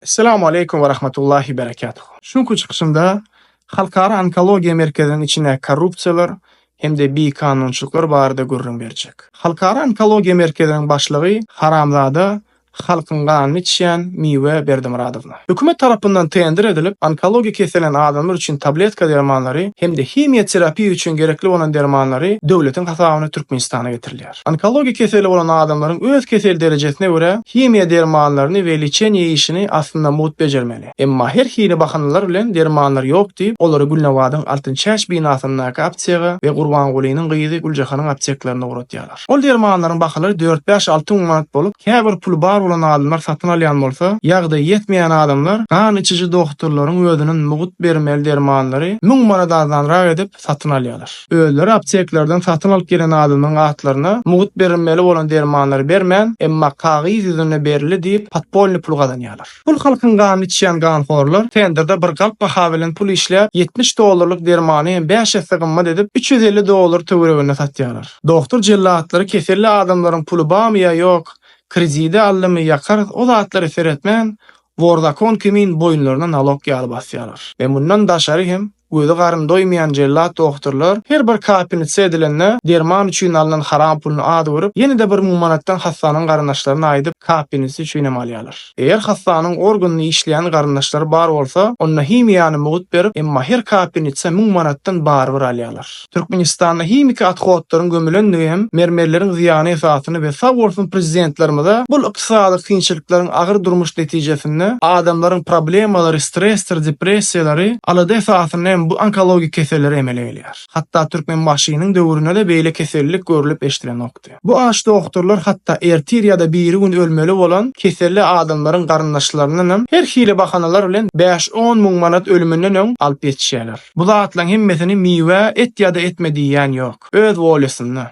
Esselamu Aleýkum we Rahmatullahi Berekatuh. Şu günki çykyşymda Halkara Onkologiýa Merkeziniň içindäki korrupsiýalar hem-de bikanunçylyklar barada gürrüň berjek. Halkara Onkologiýa Merkeziniň başlygy haramzada halkyň ganyny içýän Miwe Berdimyradowna. Hökümet tarapyndan tender edilip, onkologiýa kesellenen adamlar üçin tabletka dermanlary hem-de himiýa terapiýa üçin gerekli bolan dermanlary döwletiň hasabyna Türkmenistana getirilýär. ýaýraýar. Onkologik keseli bolan adamlaryň öz kesel derejesine görä himiýa dermanlaryny we liçeniýe işini aslynda mugt bejermeli. Emma her hili bahanalar bilen dermanlar ýok diýip, olary Gülnabadyň Altyn çäç binasyndaky aptega we Gurbangulynyň gyzy Güljahanyň apteklerinde ugratýarlar. Ol dermanlaryň bahalary dört-bäş alty müň manat bolup, käbir puly bar bolan adamlar satyn alýan bolsa, ýagdaýy ýetmeýän adamlar gan içiji dohturlaryň özüniň mugt bermeli dermanlary müň manat arzanrak edip, satyn alýarlar. Özleri apteklerden satyn alyp gelen adamlaryň atlaryna mugt berilmeli bolan dermanlary bermän, emma kagyz ýüzünde berildi diýip, podpolny pul gazanýarlar. Pul halkyň ganyny içýän ganhorlar tenderde bir galp baha bilen pul işläp, ýetmiş dollarlyk dermany hem bäş esse gymmat edip, üç ýüz elli dollar töwereginde satýarlar. Dohtor jellatlary keselli adamlaryň puly bamy ýa ýok, kredide aldymy, ýakarys, o zatlara seretmän, wor zakon kimin boýunlaryna nalok ýaly basýarlar we mundan daşary hem, Gözi garny doýmaýan jellat dohturlar her bir kapelnitsa edilende derman üçin alnan haram puluny az görüp, ýene-de bir müň manatdan hassanyň garyndaşlaryna aýdyp, kapelnitsa üçinem alýarlar. Eger hassanyň organyny işleýän garyndaşlary bar bolsa, onda himiýany mugt berip, emma her kapelnitsa müň manatdan barybir alýarlar. Türkmenistanda himiki athodlaryň gömülendigi hem mermerleriň zyýany esasyny we sag bolsun prezidentlerimize bul ykdysady kynçylyklaryň agyr durmuş netijesinde adamlaryň problemalary stresdir depressiýalary alada esasynda hem bu onkologik keselleri emele gelýär hatda Türkmenbaşynyň döwrünede beýle kesellik görülip eşdilenok. ýokdy. Bu aç dogturlar hatda ertir ýa-da birigün ölmeli bolan keselli adamlaryň garyndaşlaryndan hem her hili bahanalar bilen bäş-on müň manat ölüminden öň alyp ýetişýärler. Bu zatlaryň hemmesini miwe et ýa-da etme diýýän ýok. Öz wolýasynda.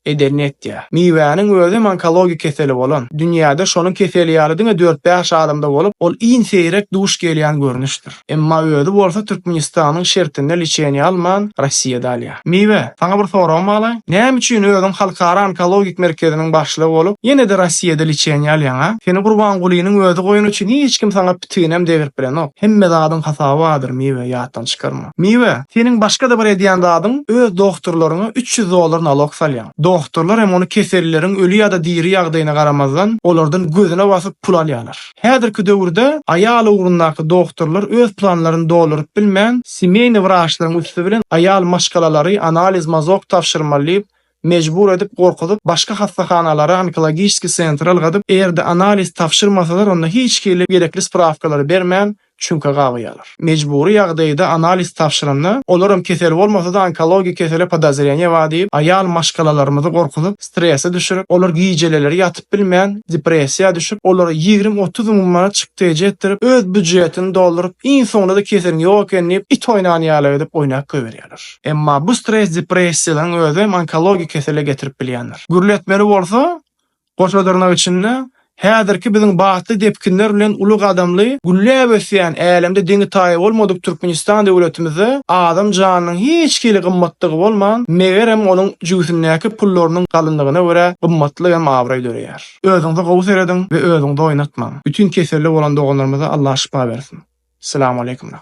Edenini etýär. Miwäniň özi hem onkologik keseli bolan, dünýäde şonuň keseli ýaly diňe dört-bäş adamda bolup, ol iň seýrek duş gelýän görnüşdir. Emma özi bolsa Türkmenistanyň şertinde liçeniýa alman, Rossiýada alýar. Miwe, saňa bir soragym balaýyn, näme üçin özüň Halkara onkologik merkeziniň başlygy bolup, ýene-de Rossiýada liçeniýa alýaň-a? Seni Gurbangulynyň özi goýan üçin hiç kim saňa pitiginem degrip bilenok. Hemme zadyň hasaby bardyr, Miwe, ýatdan çykarma. Miwe, seniň başga-da bir edýän zadyň, öz dohturlaryňa üç ýüz dollar nalok salýaň. Dohturlar hem ony kesellileriň öli ýa-da diri ýagdaýyna garamazdan, olardan gözüne basyp pul alýarlar. Häzirki döwürde aýal ugrundaky dogtorlar öz planlaryny dolduryp bilmän, semýeýny wraçlaryň üsti bilen aýal maşgalalary analiz mazok tabşyrmaly diýip, mejbur edip, gorkuzyp, başga hassahanalara, onkologiçiskiý sentra ylgadyp, eger-de analiz tabşyrmasalar, onda hiç hili gerekli sprawkalary bermän, çüňke gabaýarlar. Mejbury ýagdaýda analiz tabşyranda, olaram kesel bolmasa-da onkologik kesele podozreniýe bar diýip, aýal maşgalalarymyzy gorkuzyp, strese düşürip, olar gijeleleri ýatyp bilmän, depressiýa düşüp, olara ýigrimi-otuz müň manat çykdajy etdirip, öz býujetini dolduryp, iň soňunda-da keseliň ýok ekeni diýip, it oýnan ýaly edip oýnap goýberýärler. Emma bu stres-depressiýalaryň özem onkologik kesele getirip bilýändir. Gürletmeli bolsa, Goşadyrnak içinde häzirki biziň batly depginler bilen uly gadamly gülläp ösýän älemde deňi-taýy bolmadyk Türkmenistan döwletimizde adam janynyň hiç hili gymmatlygy bolman, megerem, onuň jübüsindäki pullarynyň galynlygyna görä gymmatlyk hem abraý döreýär. Özüňize gowy serediň we özüňizi oýnatmaň. Bütin keselli bolan doganlarymyza Allah şypa bersin. Selam Aleýkum Rahym.